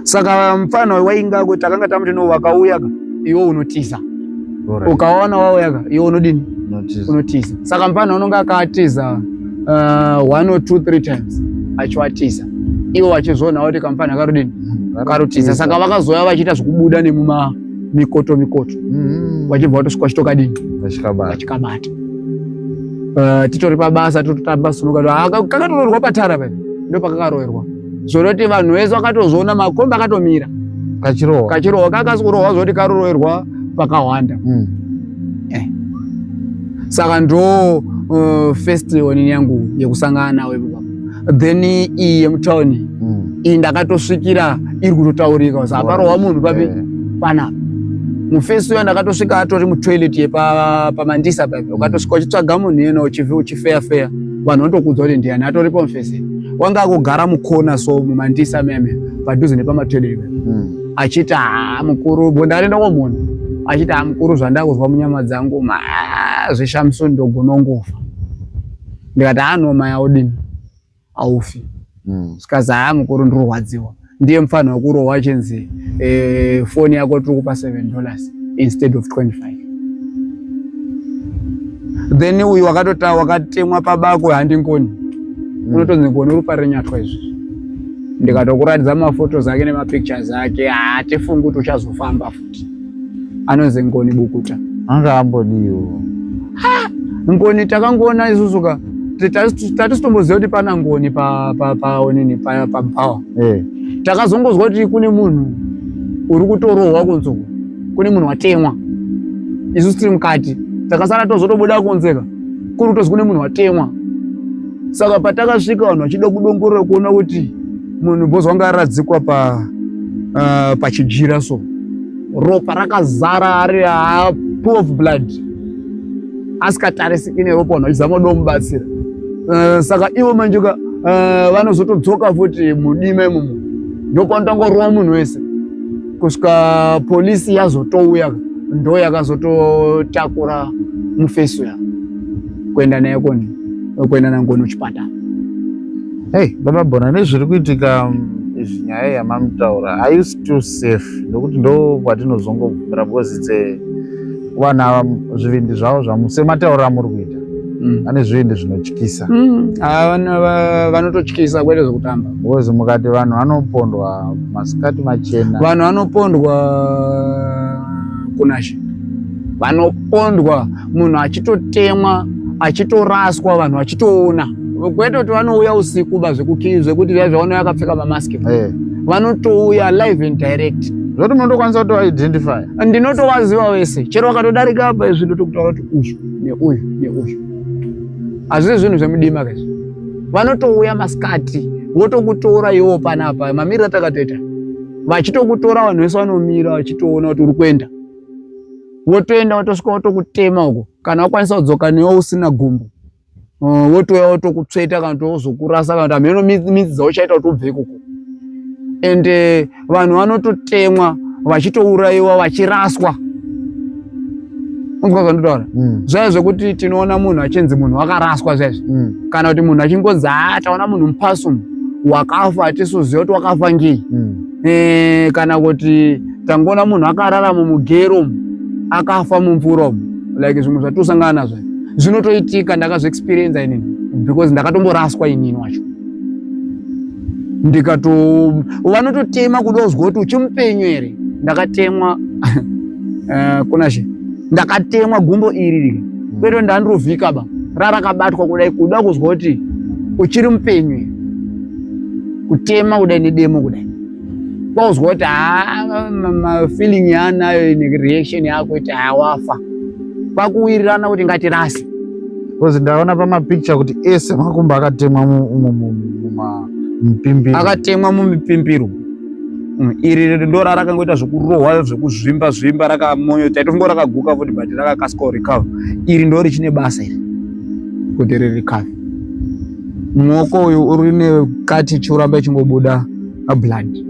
saka mfana wainga kuti akanga tamuti no wakauya ka iwe unotiza ukaona wauya ka iwe unodini unotiza saka mfana unonga akatiza uh, one or two three times achiwatiza iwo wachizvionawo kuti kamfana karudini karutiza saka vakazouya vachiita zvekubuda nemuma mikoto mikoto mm-hmm. vachibva vatosvika vachitokadini vachikabata eh, titori pabasa tototamba sunuka ah, kakatoroerwa patara pa ndo pakakaroerwa zvoroti vanhu vese vakatozviona makombi akatomira kachirohwa kachirohwa kakasi kurohwa zvoti karoroerwa pakahwanda mm. eh. saka ndo uh, first onini yangu yekusangana nawo ipo then iyi yemutown mm. iyi ndakatosvikira iri kutotaurika kuzi aparohwa munhu papi eh. panapa mufesi uyo ndakatosvika atori mutoilet yepamandisa papi ukatosvika uchitsvaga munhu iyena uchifeya feya vanhu vanotokudzwa kuti ndiyani atoripo mufesi wanga akugara mukona so mumandisa meme padhuze nepamatoilet mm. achiti haa mukuru bondaenda komunhu achiti haa mukuru zvandakuzwa munyama dzangu zveshamsoni ndogonongofa ndikati haa noma yaudini aufi mm. zvikanzi haa mukuru ndirurwadziwa ndiye mfanha wekurohwa achinzi eh, foni yako tiri kupa seven dollars instead of 25 then uyu wakatota wakatemwa pabako handingoni mm. unotonzi ngoni uri parenyatwa izvi ndikatokuratidza mafotos ake nemapictures ake hatifungi kuti uchazofamba anonzi ngoni bukuta anga ambodiwo ngoni takangoona isusu ka tatisitomboziva kuti pana ngoni paonini pabhawa eh. takazongozwa kuti kune munhu uri kutorohwa kunzo kune munhu watemwa isusu tiri mukati takasara tozotobuda kunzeka kuri kutozi kune munhu watemwa saka patakasvika vanhu vachida kudongorora kuona kuti munhu bhozi wanga aradzikwa pa uh, pachijira so ropa rakazara ari ah, pool of blood asikatarisiki neropa vanhu vachizama kuda kumubatsira uh, saka ivo manje ka uh, vanozotodzoka futi mudima imomo ndopanotangorova munhu wese kusvika polisi yazotouya ndo yakazototakura mufeso ya kuenda naye koni kuenda nangono chipatara Hey, baba Bona nezviri kuitika mm, izvi nyaya yamamutaura are you still safe nekuti ndo kwatinozongobvumira because it's a vana ava zvivindi zvavo zvamu semataura amuri kuita Mm. vane zvivindi zvinotyisa Mm. Ava vano- va- vanototyisa kwete zvekutamba because mukati vanhu vanopondwa masikati machena vanhu vanopondwa kunashe vanopondwa munhu achitotemwa achitoraswa vanhu vachitoona kwete kuti vanouya usiku ba zvekukii zvekuti via zvaona yakapfeka mamask hey. Eh. vanotouya live and direct zvoti munotokwanisa kutoidentify ndinotovaziva wese chero vakatodarika apa izvi ndotokutaura kuti uyu neuyu neuyu hazvisi zvinhu zvemudima kaizvi vanotouya masikati votokutora iwo panapa mamiriro atakatoita vachitokutora vanhu vese vanomira vachitoona kuti uri kuenda wotoenda wotosvika wotokutema uko kana wakwanisa kudzoka newe usina gumbo uh, wotouya wotokutsveta kana tozokurasa kana kuti hameno midzi dzauchaita kuti ubve ikoko and eh, vanhu vanototemwa vachitourayiwa vachiraswa unzwa zvandotaura mm. zvaya zvekuti tinoona munhu achinzi munhu wakaraswa zvaizvi mm. kana kuti munhu achingonzi haa ah, taona munhu mupasumu wakafa atisuziva kuti wakafa ngei mm. e, kana kuti tangoona munhu akarara mumugero akafa mumvura like zvimwe zvatosangana nazvo zvinotoitika ndakazviexperienza inini because ndakatomboraswa inini wacho ndikato vanototema kuda kuzwa kuti uchimupenyu here ndakatemwa eh, kunashe ndakatemwa gumbo iri rike kweto ndandirovhika ba rarakabatwa kudai kuda kuzwa kuti uchiri mupenyu here kutema kudai nedemo kudai kwauzwa kuti haa mafeeling yaanayo nereaction yako kuti haa wafa kwakuwirirana kuti ngatirase bcause ndaona pamapicture kuti ese makumbo akatemwa mumipimbiro akatemwa mumipimbiro mm, iri ndora rakangoita zvekurohwa zvekuzvimba zvimba rakamonyo taitongo rakaguka futi but rakakasika recover iri ndo richine basa iri kuti rirecover Muoko uyu uri nekati chikuramba ichingobuda blood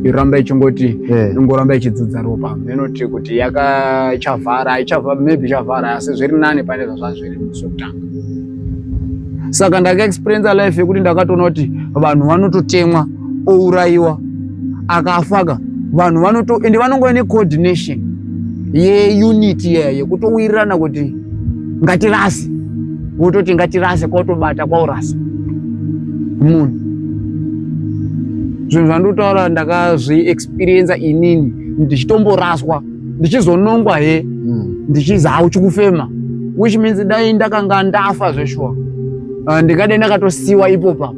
yoramba ichingoti ingoramba ichidzudza ropa inoti kuti yakachavhara haichavhara maybe chavhara asi zviri nani pane zvazvazviri sokutanga saka ndakaexperiensa life yekuti ndakatoona kuti vanhu vanototemwa ourayiwa akafaka vanhu vanoto ende vanongova necoordination yeunit yeya yekutowirirana kuti ngatirase wototi ngatirase kwautobata kwaurasa munhu zvinhu zvandotaura ndakazviexperiensa inini ndichitomboraswa ndichizonongwa he hmm. ndichizi hauchikufema which means dai ndakanga ndafa zveshuwa ah, ndingadai ndakatosiwa ipopa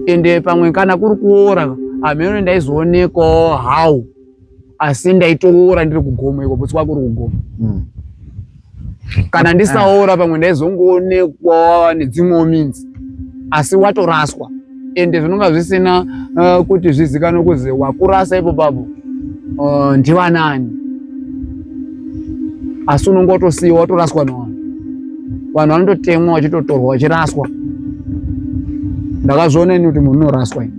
ende pamwe kana kuri kuora hameno ndaizoonekwawo how asi ndaitoora ndiri kugomo iko bhutsu kwako uri kugomo mm. kana ndisaora pamwe ndaizongoonekwa nedzimwewo minzi asi watoraswa ende zvinonga zvisina uh, kuti zvizikanwe kuzi wakurasa ipo papo uh, ndivanani asi unonge watosiyiwa watoraswa nevanhu vanhu vanototemwa vachitotorwa vachiraswa ndakazviona ini kuti munhu unoraswa ini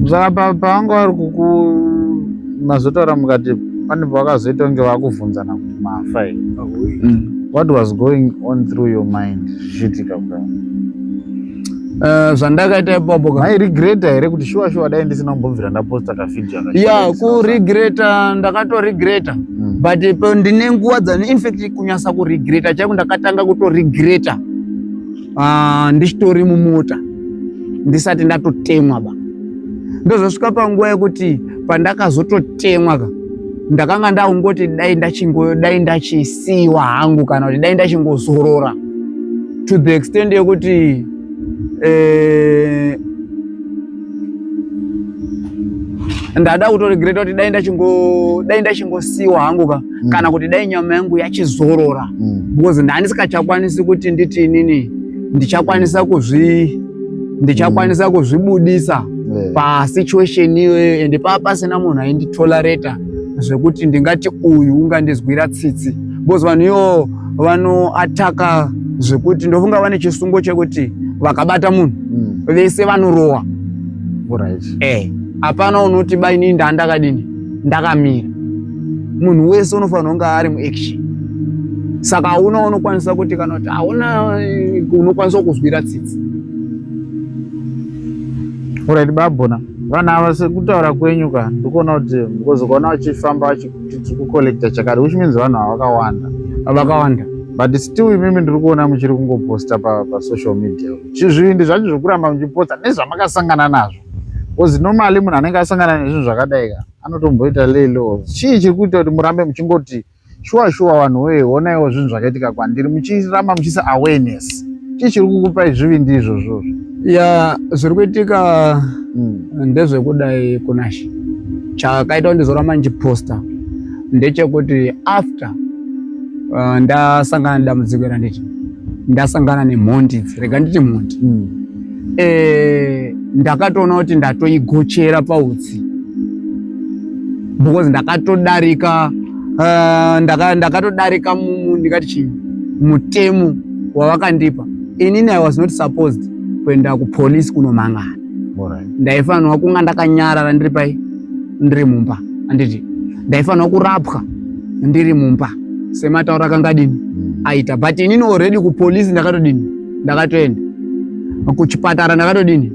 saka pavanga vari kuku mazotaura mukati pane pavakazoita kunge vakuvhunzana kuti mafa here mm. what was going on through your mind zvichiitika kudai eh, zvandakaita ipapo mairegreta here kuti shuwa shuwa dai ndisina kumbobvira ndaposta kavideo ya kuregreta ndakatoregreta mm. but eh, ndine nguva dzani infact kunyasa kuregreta chaiko ndakatanga kutoregreta uh, ndichitori mumota ndisati ndatotemwa ba ndozosvika panguva yekuti pandakazototemwa ka ndakanga ndakungoti dai ndachingo dai ndachisiiwa hangu kana kuti dai ndachingozorora to the extent yekuti eh, ndada kutoregreta kuti dai ndachingosiiwa hangu ka mm. kana kuti dai nyama yangu yachizorora mm. because ndandisikachakwanisi kuti nditi inini ndichakwanisa kuzvi ndichakwanisa mm. kuzvibudisa yeah. pasituation iyoyo ende paa pasina munhu ainditolerata zvekuti ndingati uyu ungandizwira tsitsi because vanhu iwo vanoataka zvekuti ndofunga vane chisungo chekuti vakabata munhu mm. vese vanorowa right. eh, apana unoti bainini ndaandakadini ndakamira munhu wese unofanira kunge ari muaction saka hauna unokwanisa kuti kana kuti hauna eh, unokwanisa kuzwira tsitsi orit babona vanhu ava sekutaura kwenyu ka ndikuona kuti because ukaona vachifamba vachiti tiri kucollecta chakati which means vanhu ava vakawanda vakawanda but still imimi ndiri kuona muchiri kungoposta pasocial media chizvivindi zvacho zvekuramba muchiposta nezvamakasangana nazvo Because normally munhu anenge asangana nezvinhu zvakadai ka anotomboita lelo. Chii chiri kuita kuti murambe muchingoti shuwa shuwa vanhu wee onaiwo zvinhu zvakaitika kwandiri muchiramba muchisa awareness. Chii chiri kukupai zvivindi izvozvo? Ya zviri kuitika hmm. ndezvekudai kunashe. Chakaita kuti ndizoramba ndichiposta ndechekuti after uh, ndasangana nedambudziko randiti ndasangana nemhondi idzi rega nditi mhondi mm. e, ndakatoona kuti ndatoigochera pautsi because ndakatodarika uh, ndakatodarika ndaka ndikati chii mutemo wavakandipa inini i was not supposed kuenda kupolice kunomangana ndaifanirwa kunga ndakanyarara ndiri pai ndiri mumba anditi ndaifanirwa kurapwa ndiri mumba semataura kangadini mm. aita but inini already kupolice ndakatodini ndakatoenda kuchipatara ndakatodini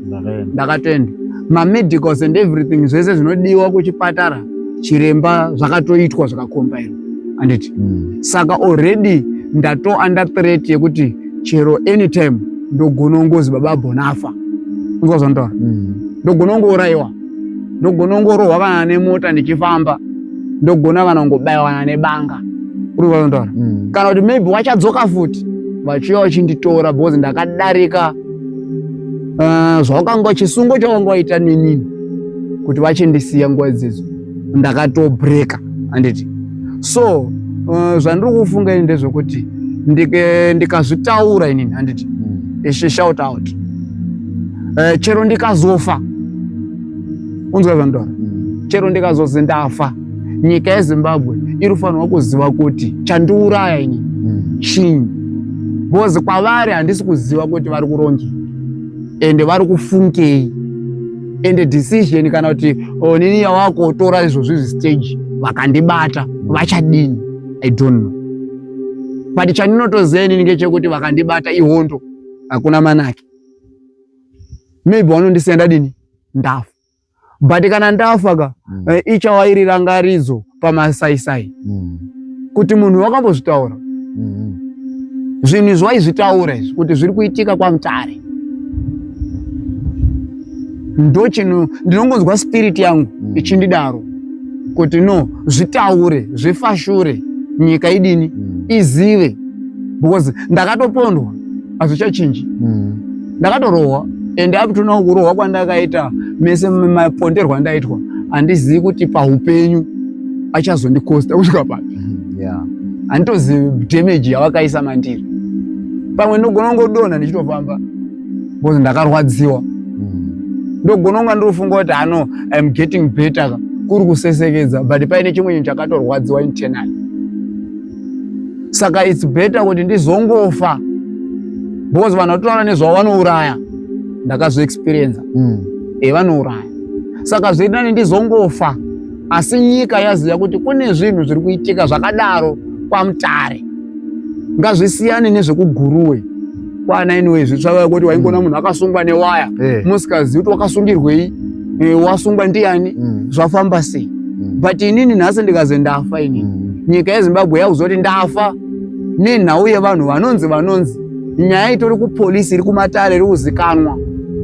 ndakatoenda mamedicals and everything zvese zvinodiwa kuchipatara chiremba zvakatoitwa zvakakombaira anditi mm. saka already ndato under threat yekuti chero anytime ndogonongozi baba bonafa ndozvandaura mm. ndogonongourayiwa ndogona kungorohwa kana nemota ndichifamba ndogona kana kungobaiwa kana nebanga uri kutaura mm. kana kuti maybe wachadzoka futi vachiuya vachinditora because ndakadarika uh, zvawakanga chisungo chawanga waita nenini kuti vachindisiya nguva idzidzo ndakatobreka handiti so uh, zvandiri kufunga ini ndezvekuti ndikazvitaura inini handiti hmm. she shout out uh, chero ndikazofa unzwa zvandora hmm. chero ndikazozi ndafa nyika yezimbabwe iri fanirwa kuziva kuti chandiuraya ini hmm. chinyi bcoz kwavari handisi kuziva kuti vari kurongi ende vari kufungei and decision kana kuti onini oh, yawakotora izvozvi zvistage vakandibata vachadini i don't know but chandinotoziva inini ngechekuti vakandibata ihondo hakuna manake maybe wanondisiya ndadini ndafa but kana ndafa ka mm. Eh, ichawairira ngaridzo pamasaisai mm. kuti munhu wakambozvitaura mm. zvinhu izvi waizvitaura izvi kuti zviri kuitika kwamutare ndochinhu ndinongonzwa spiriti yangu mm. ichindidaro kuti no zvitaure zvifashure nyika idini mm. izive because ndakatopondwa hazvichachinji mm. ndakatorohwa and up to now kurohwa kwandakaita mese maponderwa andaitwa handizivi kuti paupenyu achazondikosta kusvika papi mm-hmm. yeah. handitozivi damage yavakaisa mandiri pamwe ndogona kungodonha ndichitofamba bcause ndakarwadziwa mm. ndogona kunga ndirofunga kuti ano im getting better kuri kusesekedza but paine chimwe chinhu chakatorwadziwa internal saka its better kuti ndizongofa because vanhu vatotaura nezvavanouraya ndakazviexperienza mm. e eh, vanouraya saka zvoita ne ndizongofa asi nyika yaziva kuti kune zvinhu zviri kuitika zvakadaro kwamutare ngazvisiyane nezvekuguruwe kwana anyway zvitsvaka kuti waingona mm. munhu akasungwa newaya eh. musikazivi kuti wakasungirwei eh, wasungwa ndiani mm. zvafamba sei mm. but inini nhasi ndikazi ndafa inini nyika yezimbabwe yakuzoti ndafa nenhau yevanhu vanonzi vanonzi nyaya itori kupolisi iri kumatare iri kuzikanwa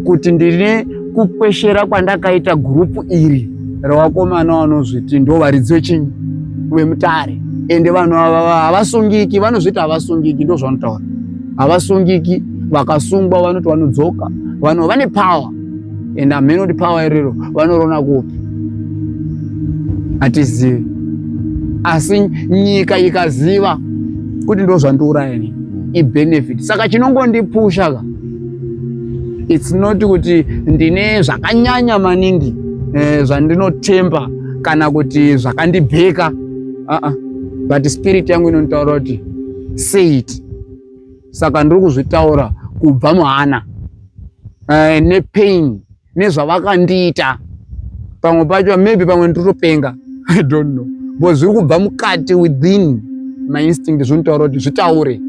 kuti ndine kukweshera kwandakaita gurupu iri revakomana vanozviti ndo varidzi vechinyi vemutare ende vanhu havasungiki vanozviti havasungiki ndozvanotaura havasungiki vakasungwa vanoti vanodzoka vanhu vane power and amheno kuti power iriro vanorona kupi hatizivi asi nyika ikaziva kuti ndo zvandiuraya ini ibenefit saka chinongondipusha ka its not kuti ndine zvakanyanya maningi eh, zvandinotemba kana kuti zvakandibheka aa uh -uh. but spirit yangu inonditaura kuti say it saka ndiri kuzvitaura kubva muhana uh, nepain nezvavakandiita pamwe pacho maybe pamwe nditotopenga i don't know but zviri kubva mukati within my instinct zvinotaura kuti zvitaure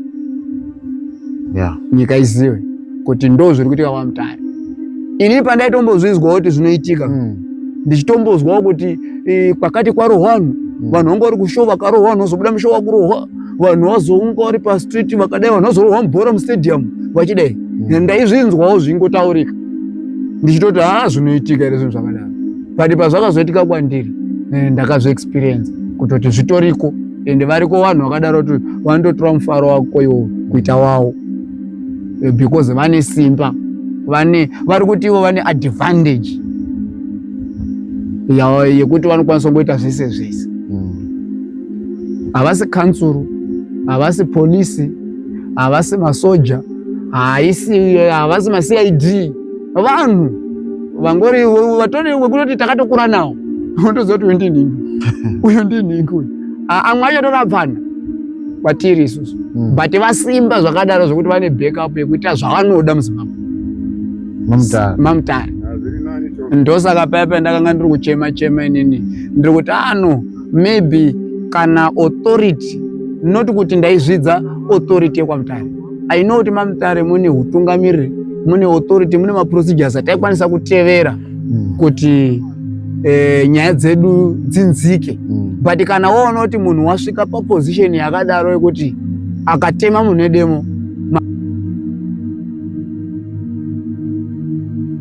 yeah. nyika izive kuti ndo zviri kuitika kwamutare ini pandaitombozvizwawo kuti zvinoitika mm. ndichitombozwawo kuti eh, kwakati kwarohwa vanhu mm. vanhu vanga vari kushowa vakarohwa vanhu vazobuda mushowa kurohwa vanhu vazounga vari pastreet vakadai vanhu vazorohwa mubhora mustadium vachidai hmm. ndaizvinzwawo zvingotaurika ndichitoti haa zvinoitika here zvinhu zvakadaro but pazvakazoitika kwandiri eh, ndakazviexperiensa kutoti zvitoriko ende variko vanhu vakadaro kuti vanototora mufaro wako iwo kuita wawo eh, because vane simba vane vari kuti ivo vane advantage yekuti vanokwanisa kungoita zvese zvese havasi kansuru havasi polisi havasi masoja haisi havasi macid vanhu vangori vatori wekutoti takatokura nawo unotoziva kuti uyu ndinhingi uyu ndinhingi uyu amwe acho torapana kwatiri isusu hmm. but vasimba zvakadaro zvekuti vane backup yekuita zvavanoda muzimbabwe mamutare ndosaka paya pandakanga ndiri kuchema chema inini ndiri kuti ano ah, maybe kana authority not kuti ndaizvidza authority yekwamutare i know kuti mamutare mune utungamiriri mune authority mune maprocedures ataikwanisa kutevera hmm. kuti eh, nyaya dzedu dzinzike hmm. but kana woona kuti munhu wasvika paposition yakadaro yekuti akatema munhu edemo